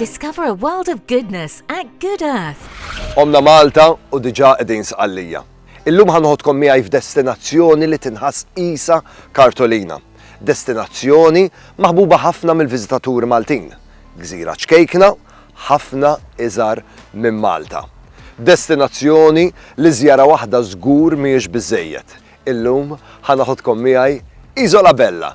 Discover a world of goodness at Good Earth. Omna Malta u diġà qegħdin Sqallija. Illum ħa noħodkom miegħi f'destinazzjoni li tinħass qisha kartolina. Destinazzjoni maħbuba ħafna mill-viżitaturi Maltin. Gżira ċkejkna, ħafna iżgħar minn Malta. Destinazzjoni li żjara waħda żgur mhijiex biżżejjed. Illum ħa naħodkom miegħi Isola Bella.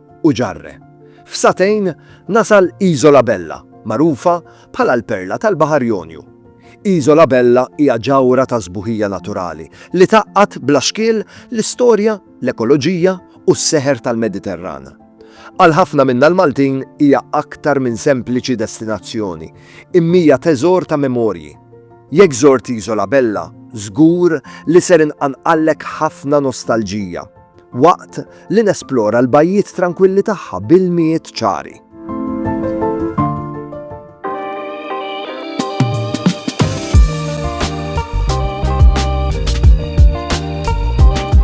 u ġarre. F'sagħtejn nasal Isola Bella, magħrufa bħala l-perla tal-Baħar Jonju. Isola Bella hija ġawhra ta' sbuħija naturali li tgħaqqad bla xkiel l-istorja, l-ekoloġija u s-seħer tal-Mediterran. Għal ħafna minna l-Maltin hija aktar minn sempliċi destinazzjoni, imhija teżor ta' memorji. Jekk żort Isola Bella, żgur li ser inqanqallek ħafna nostalġija. Waqt li nesplora l-bajjiet trankwilli tagħha b'ilmijiet ċari.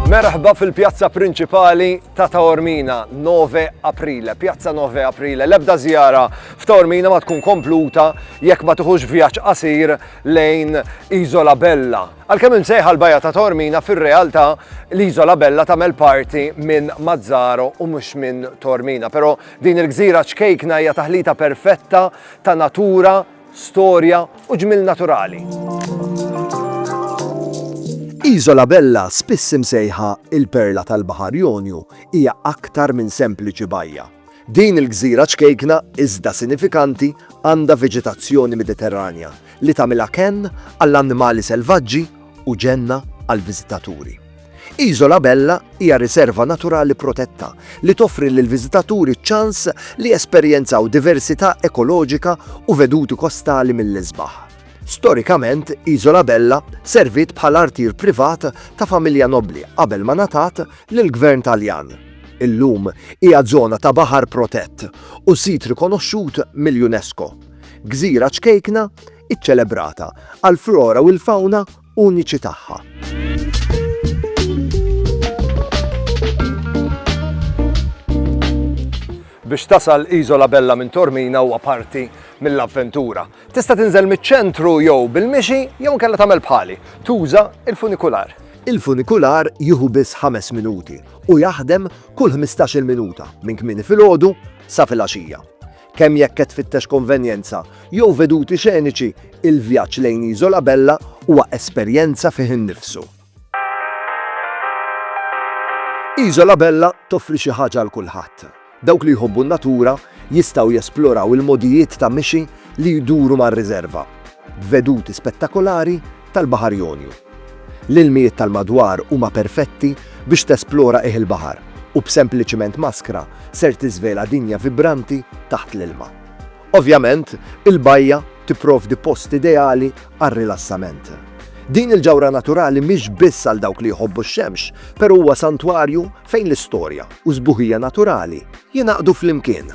Merħba fil-pjazza prinċipali ta' Taormina, 9 Aprile, pjazza 9 Aprile. L-ebda zjara f'Taormina ma tkun kompluta jekk ma tuħux vjaġġ qasir lejn Isola Bella, Għalkemm imsejħa l-Bajja ta' Taormina fir-realtà l-Iżola Bella tagħmel parti minn Mazzaro u mhux minn Taormina, però din il-gżira ċkejkna hija taħlita perfetta ta' natura, storja u ġmiel naturali. Iżola Bella, spiss imsejħa il-perla tal-Baħar Jonju, hija aktar minn sempliċi bajja. Din il-gżira ċkejkna iżda sinifikanti għandha veġetazzjoni Mediterranja li tagħmilha kenn għall-annimali selvaġġi u ġenna għall-viżitaturi. Isola Bella hija riserva naturali protetta li toffri lill-viżitaturi ċ-ċans li jesperjenzaw diversità ekoloġika u veduti kostali mill-isbaħ. Storikament, Isola Bella serviet bħala artier privat ta' familja nobbli qabel ma ngħatat lill-Gvern Taljan, illum hija żona ta' baħar protett u sit rikonoxxut mill-UNESCO, gżira ċkejkna iċċelebrata għall-flora u l-fawna uniċi tagħha. Biex tasal Isola Bella minn Tormina huwa parti mill-avventura. Tista' tinżel miċ-ċentru jew bil-mixi jew inkella tagħmel bħali, tuża l-funikular. Il-funikular jieħu biss ħames minuti u jaħdem kull ħmistax-il minuta minn kmieni filgħodu sa filgħaxija. Kemm jekk qed tfittex konvenjenza jew veduti xeniċi, il-vjaġġ lejn Isola Bella huwa esperjenza fih innifsu. Iżola Bella toffri xi ħaġa għal kulħadd. Dawk li jħobbu n-natura jistgħu jesploraw il-mogħdijiet ta' mixi li jduru mar-riżerva, b'veduti spettakolari tal-Baħar Jonju. L-ilmijiet tal-madwar huma perfetti biex tesplora qiegħ il-baħar u b'sempliċiment maskra ser tiżvela dinja vibranti taħt l-ilma. Ovvjament, il-bajja tipprovdi post ideali għar-rilassament. Din il-ġawhra naturali mhix biss għal dawk li jħobbu x-xemx, però huwa santwarju fejn l-istorja u s-sbuħija naturali jingħaqdu flimkien.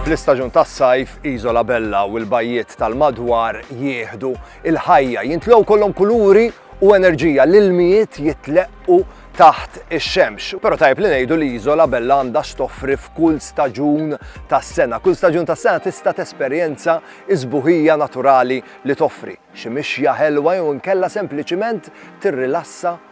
Fl-istaġun tas-sajf, Iżola Bella u l-bajjiet tal-madwar jieħdu il-ħajja, jintlgħu kollhom kuluri u enerġija, l-ilmijiet jitleqqu taħt ix-xemx. Però tajb li ngħidu li Iżola Bella għandha stoffri f'kull staġun tas-sena. Kull staġun tas-sena tista' tesperjenza iżbuħija naturali li toffri. Xi mixja ħelwa jew inkella sempliċiment tirrilassa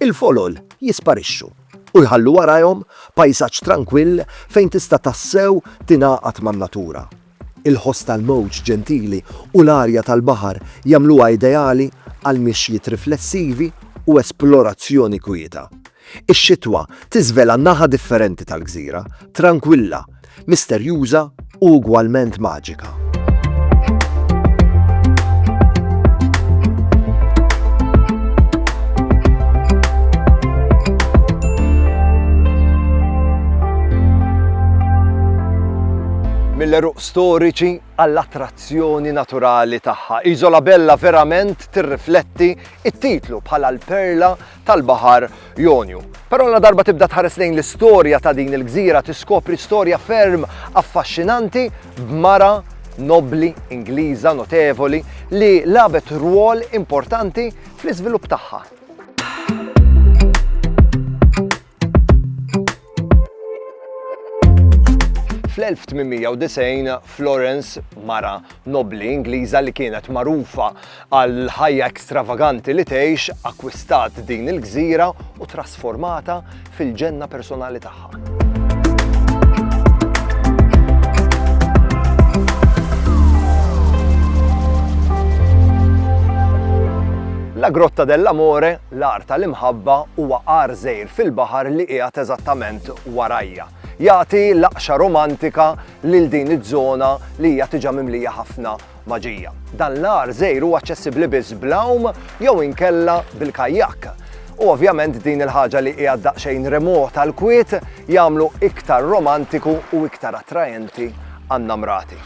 Il-folol jisparixxu u jħallu warajhom pajsaġġ trankwill fejn tista' tassew tingħaqad man-natura. Il-ħoss tal-mowġ ġentili u l-arja tal-baħar jagħmluha ideali għal mixjiet riflessivi u esplorazzjoni kwieta. Ix-xitwa tiżvela naħa differenti tal-gżira, trankwilla, misterjuża u ugwalment maġika. Mill-għeruq storiċi għall-attrazzjoni naturali tagħha, Isola Bella verament tirrifletti it-titlu bħala l-perla tal-Baħar Jonju. Però la darba tibda tħares lejn l-istorja ta' din il-gżira tiskopri storja ferm affaxxinanti b'mara nobbli Ingliża notevoli li labet rwol importanti fl-iżvilupp tagħha. Fl-1890 Florence, mara nobli Ingliża li kienet magħrufa għal ħajja ekstravaganti li tgħix, akkwistat din il-gżira u trasformata fil-ġenna personali tagħha. La Grotta dell'Amore L-għar tal-imħabba huwa għar żgħir fil-baħar li qiegħed eżattament warajja. Jagħti laqxa romantika lil din iż-żona li hija tiġa mimlija ħafna maġija. Dan l-għar żgħir huwa aċċessibbli biss bl-għawm jew inkella bil-kajak. U ovvjament din il-ħaġa li hija daqsxejn remota l-kwiet jagħmlu iktar romantiku u iktar attraenti għan-namrati.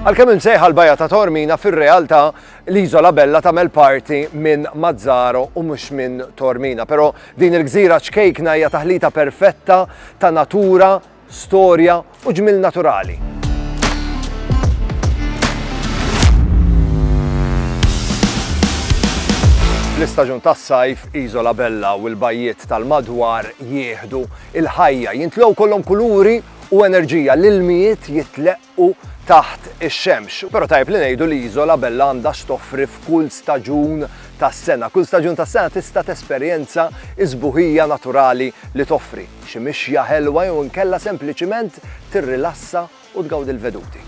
Għalkemm imsejħa l-bajja ta' Tormina fir-realtà l-Iżola Bella tagħmel parti minn Mazzaro u mhux minn Tormina, però din il-gżira ċkejkna hija taħlita perfetta ta' natura, storja u ġmiel naturali. Fl-istaġun tas-sajf, Iżola Bella u l-bajjiet tal-madwar jieħdu il-ħajja, jintlew kollhom kuluri u enerġija l-ilmijiet jitlaq u taħt ix-xemx. Però tajjeb li ngħidu li Isola Bella għandha x'toffri f'kull staġun tas-sena. Kull staġun tas-sena tista' tesperjenza s-sbuħija naturali li toffri, xi mixja ħelwa jew inkella sempliċiment tirrilassa u tgawdi l-veduti.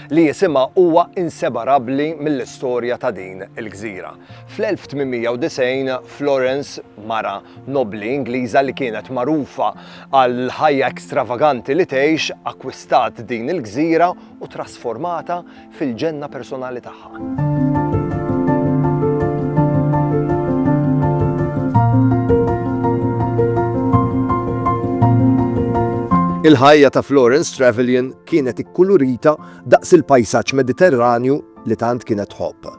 li jisimha huwa insebarabbli mill-istorja ta' din il-gżira. Fl-1890, Florence, mara nobbli Ingliża li kienet magħrufa għall-ħajja ekstravaganti li tgħix, akkwistat din il-gżira u ttrasformatha fil-ġenna personali tagħha. Il-ħajja ta' Florence Trevelyan Kienet ikkulurita daqs il-pajsaġġ Mediterranju li tant kienet tħobb.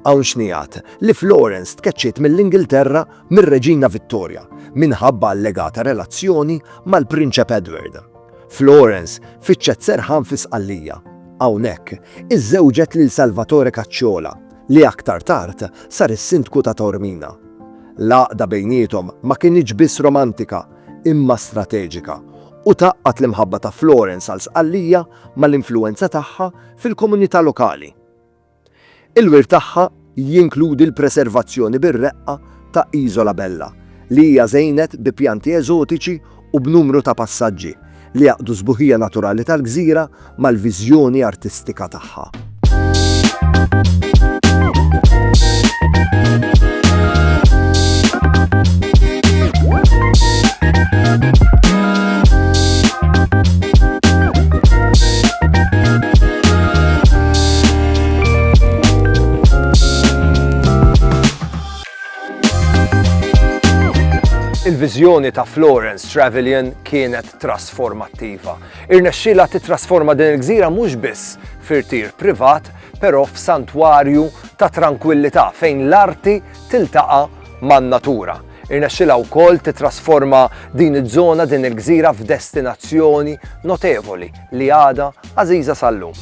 Hawn xnigħat li Florence tkeċċiet mill-Ingilterra mir-Reġina Vittorja minħabba allegata relazzjoni mal-Prinċep Edward. Florence fittxet serħan fi Sqallija. Hawnhekk iżżewġet lil Salvatore Cacciola li aktar tard sar is-Sindku ta' Taormina. L-għaqda bejniethom ma kinitx biss romantika imma strateġika u tgħaqqad l-imħabba ta' Florence għal Sqallija mal-influwenza tagħha fil-komunità lokali. Il-wirt tagħha jinkludi l-preservazzjoni bir-reqqa ta' Isola Bella, li hija żejnet bi pjanti eżotiċi u b'numru ta' passaġġi li jgħaqqdu s-sbuħija naturali tal-gżira mal-viżjoni artistika tagħha. Il-viżjoni ta' Florence Trevelyan kienet trasformattiva. Irnexxielha tittrasforma din il-gżira mhux biss f'irtir privat, però f'santwarju ta' trankwillità fejn l-arti tiltaqa' man-natura. Irnexxielha wkoll tittrasforma din iż-żona, din il-gżira f'destinazzjoni notevoli li għadha għażiża sal-lum.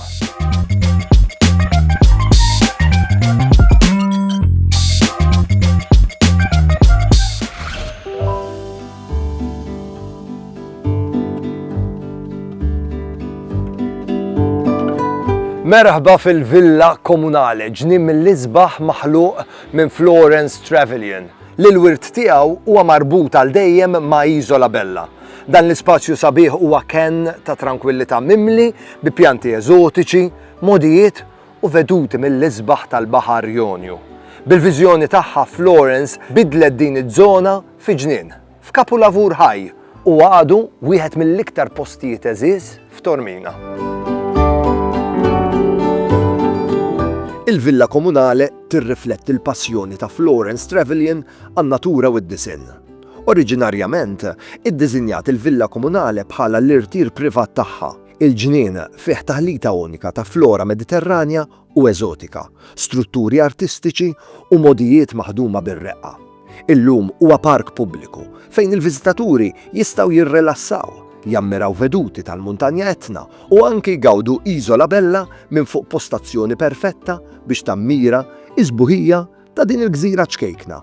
Merħba fil-Villa Komunale, ġnien mill-isbaħ maħluq minn Florence Trevelyan, li l-wirt tiegħu huwa marbut għal dejjem ma' Isola Bella. Dan l-ispazju sabiħ huwa kenn ta' trankwillità mimli bi pjanti eżotiċi, modijiet u veduti mill-isbaħ tal-Baħar Jonju. Bil-viżjoni tagħha Florence bidlet din iż-żona fi ġnien, f'kapulavur ħaj u għadu wieħed mill-iktar postijiet għeżież f'Tormina. Il-Villa Komunale tirrifletti l-passjoni ta' Florence Trevelyan għan-natura u d-disinn. Oriġinarjament, iddiżinjat il-Villa Komunale bħala l-irtir privat tagħha. Il-ġnien fih taħlita unika ta' flora Mediterranja u eżotika, strutturi artistiċi u mogħdijiet maħduma bir-reqqa. Illum huwa park pubbliku fejn il-viżitaturi jistgħu jirrilassaw, jammiraw veduti tal-Muntanja Etna u anki jgawdu Isola Bella minn fuq postazzjoni perfetta biex tammira s-sbuħija ta' din il-gżira ċkejkna.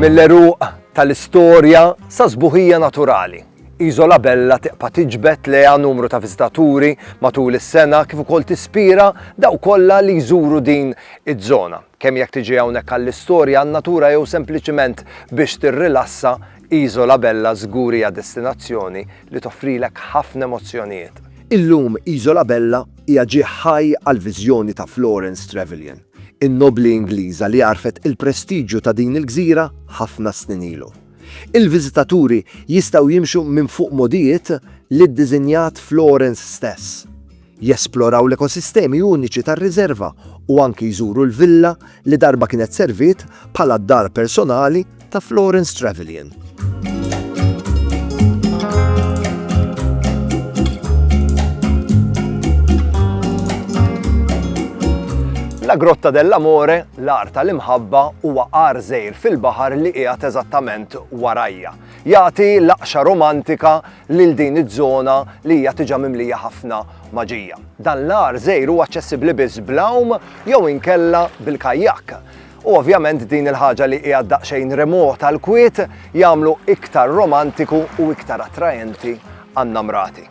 mill-eruq tal-istorja sa sbuħija naturali. Iżola Bella tiqpa tiġbed leha numru ta' viżitaturi matul is-sena kif ukoll tispira daw kollha li jżuru din iż-żona. Kemm jekk tiġi hawnhekk għall-istorja, għan-natura jew sempliċiment biex tirrilassa, Isola Bella żgur hija destinazzjoni li toffrilek ħafna emozzjonijiet. Illum Isola Bella hija ġieħ ħaj għall-viżjoni ta' Florence Trevelyan, in-nobbli Ingliża li għarfet il-prestiġju ta' din il-gżira ħafna snin ilu. Il-viżitaturi jistgħu jimxu minn fuq mogħdijiet li ddiżinjat Florence stess. jesploraw l-ekosistemi uniċi tar-riżerva u anki jżuru l-villa li darba kienet serviet bħala d-dar personali ta' Florence Trevelyan. La Grotta dell'Amore, l-ar tal-imħabba, huwa għar żejr fil-baħar li qiegħed eżattament warajja. Jagħti laqxa romantika lil din iż-żona li hija tiġa mimlija ħafna maġija. Dan l-għar żejr huwa aċċessibbli biss bl-għawm jew inkella bil-kajjak. U ovvjament din il-ħaġa li hija daqsxejn remota l-kwiet jagħmlu iktar romantiku u iktar attraenti għan-namrati.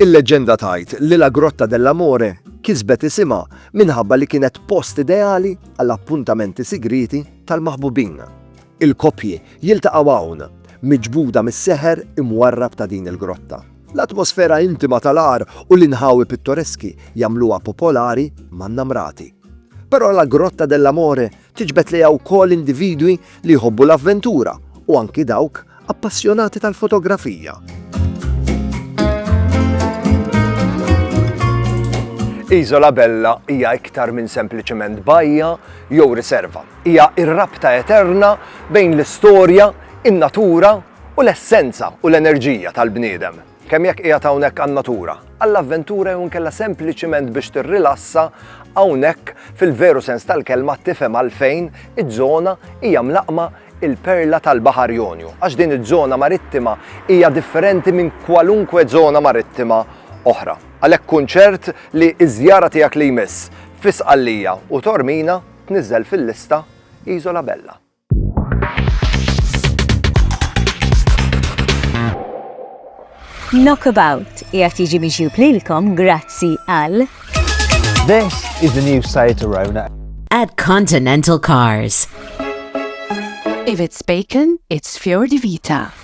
Il-leġġenda tgħid li La Grotta dell'Amore kisbet isimha minħabba li kienet post ideali għal appuntamenti sigrieti tal-maħbubin. Il-koppji jiltaqgħu hawn, miġbuda mis-seħer imwarrab ta' din il-grotta. L-atmosfera intima tal-għar u l-inħawi pittoreski jagħmluha popolari man-namrati. Però La Grotta dell'Amore Tiġbed lejha wkoll individwi li jħobbu l-avventura u anki dawk appassjonati tal-fotografija. Iżola Bella hija iktar minn sempliċement bajja jew riserva. Hija r-rabta eterna bejn l-istorja, in-natura u l-essenza u l-enerġija tal-bniedem. Kemm jekk qiegħed hawnhekk għan-natura, għall-avventura jew inkella sempliċiment biex tirrilassa, hawnhekk, fil-veru sens tal-kelma, tifhem għalfejn iż-żona hija mlaqqma il-perla tal-Baħar Jonju, għax din iż-żona marittima hija differenti minn kwalunkwe żona marittima oħra. Għalhekk kun ċert li ż-żjara tiegħek li jmiss fi Sqallija u Tormina tniżżel fil-lista Isola Bella. Knockabout qiegħed jiġi miġjub lilkom grazzi għal This is the new site Arona. At Continental Cars. If it's bacon, it's Fior di Vita.